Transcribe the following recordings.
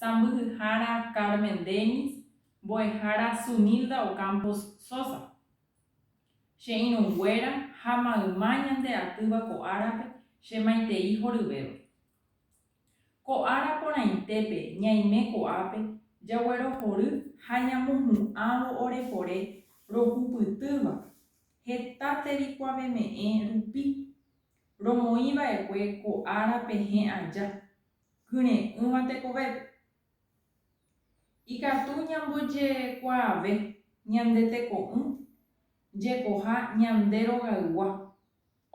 Sãmbyhyhára Carmen Dennis, mbo'ehára Sunilda Ocampos Sosa. Che irũnguéra ha mayma ñande atýva ko árape che maitei horyvéva. Ko ára porãitépe ñaime ko'ápe jaguerohory ha ñamohu'ãvo orepore rohupytýva heta tevikuaveme'ẽ rupi, romoĩ va'ekue ko ára pehẽ aja. kyre'ỹva tekovépe. Ikatu ñambojekuaave ñande teko'ỹ jekoha ñande rogaygua,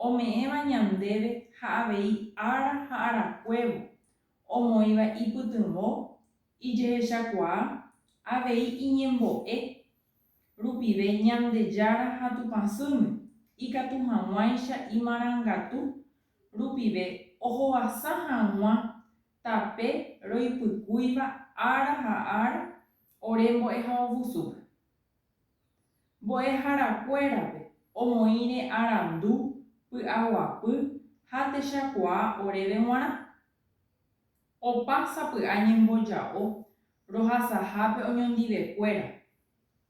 ome'ẽva ñandéve ha avei ára ha arakuévo, omoĩva ipytyvõ, ijehechakuaa, avei iñembo'e, rupive Ñandejára ha Tupãsýme, ikatu hag̃uáicha imarangatu rupive ohovasa hag̃ua tape roipykúiva ára ha ára ore mbo'ehaovusúpe. Mbo'eharakuérape omoĩre arandu, py'aguapy ha techakuaa oréve g̃uarã. Opa sapy'a ñemboja'o rohasahápe oñondivekuéra,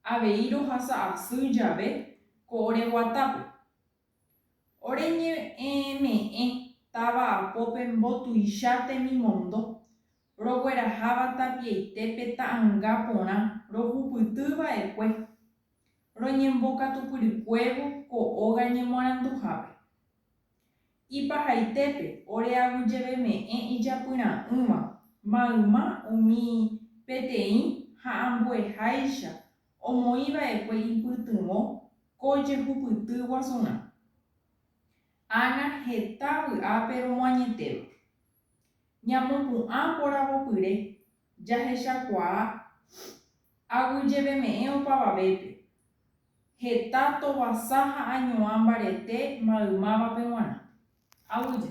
avei rohasa asy jave ko ore guatápe. Ore ñe'ẽme'ẽ táva apópe mbotuicha temimondo, rogueraháva tapiaite pe ta'ãnga porã rohupyty va'ekue, roñembokatupyrykuévo ko óga ñemoaranduhápe. Ipahaitépe ore aguyjeveme'ẽ ijapyra'ỹva mayma umi peteĩ ha ambueháicha omoĩ va'ekue ipytyvõ ko jehupyty guasurã. Ág̃a heta vy'ápe romoañetéva. Ñamopu'ã poravopyre jahechakuaa aguyjeveme'ẽ opavavépe, heta tovasa ha añoã mbarete maymávape g̃uarã. Aguyje,